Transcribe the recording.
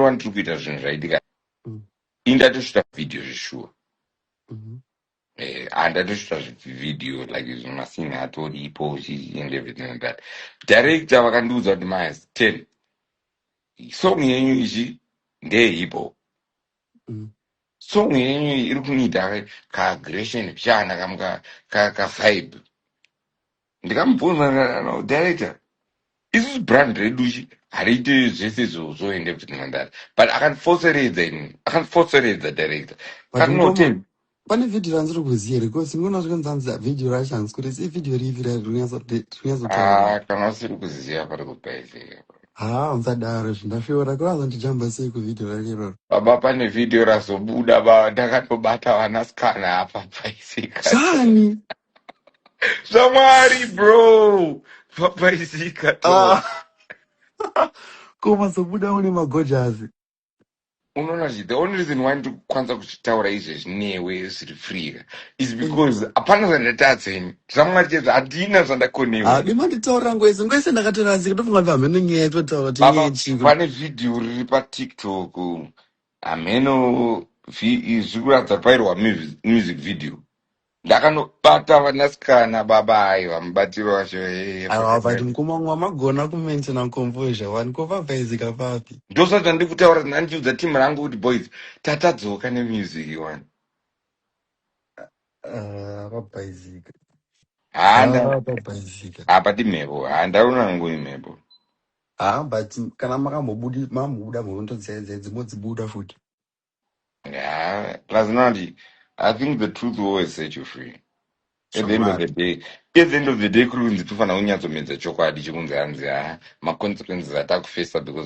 wani tiri kuita zvinhu zvaitika Mm. indatosvita video zveshuwa Mhm. Eh, andatosvita video like izvi masinhi atoripo zhizhi and everything like that director vakandiudza kuti mas ten song yenyu izvi ndeye hip hop Mm. song yenyu iyi iri kunida kaagression kuchana kamuka kavibe Ndikamubvunza ndikati ano director isusu brand redu chi hariite zvese izvo zvoende kuti nhandare but akandifoseredza ini akandifoseredza director But akati no mukoma ten pane video randiri kuziva here because ndinoona kuti kanzanzi video racho hanzi kuti si video ripi ra- rinonyatso- ri- rinyatsotaurirwa ah kana usiri kuziziva pari kupaizira haa musadaro izvi ndasviora kuri azondijamba sei kuvideo rake iroro baba pane vhidhiyo razobuda baba ndakatobata vanasikana apa paisika zvani zvamwari bro papaizika to Ah, koma sobuda une magojazi unoona zvi the only reason why ndiri kukwanisa kuchitaura izvezvi newe zviri freeka is Mm. because hapana zvandatadza ini zvamwari chezvo handina zvandakonewa haadi ini manditaurira ngwese ngwese ndakatorasika ndofunga kuti hameno nyaya yatinotaura kuti nyaya baba yechiko pane vhidhiyo riri patiktok hameno vi- zviri kuratidza kuti pairwa mu- music video Ndakanobata vanasikana baba hai vamubatiro wacho hee Ava fucking vavati hell. mukoma wangu vamagona kumaintaina composure wani ko vavhaizika papi. Ndosati zvandiri kutaura nandiudza team rangu kuti boys tatadzoka nemusic wani. Ah, Vabhaizika. Haa nda Ah, Vabhaizika. apa timhepo haa ndaona hangu imhepo. Ah, but kana makambobudi mambobuda mhondo dzaye dzaye dzimwe dzibuda futi. Yeah, plus Nandi, I think the truth will always set you free. At the end of the Chokwadi. day, at the end of the day, kuri kunzi tofana kunyatsomedza chokwadi chekunzi hanzi ah, ma consequences atakufesa because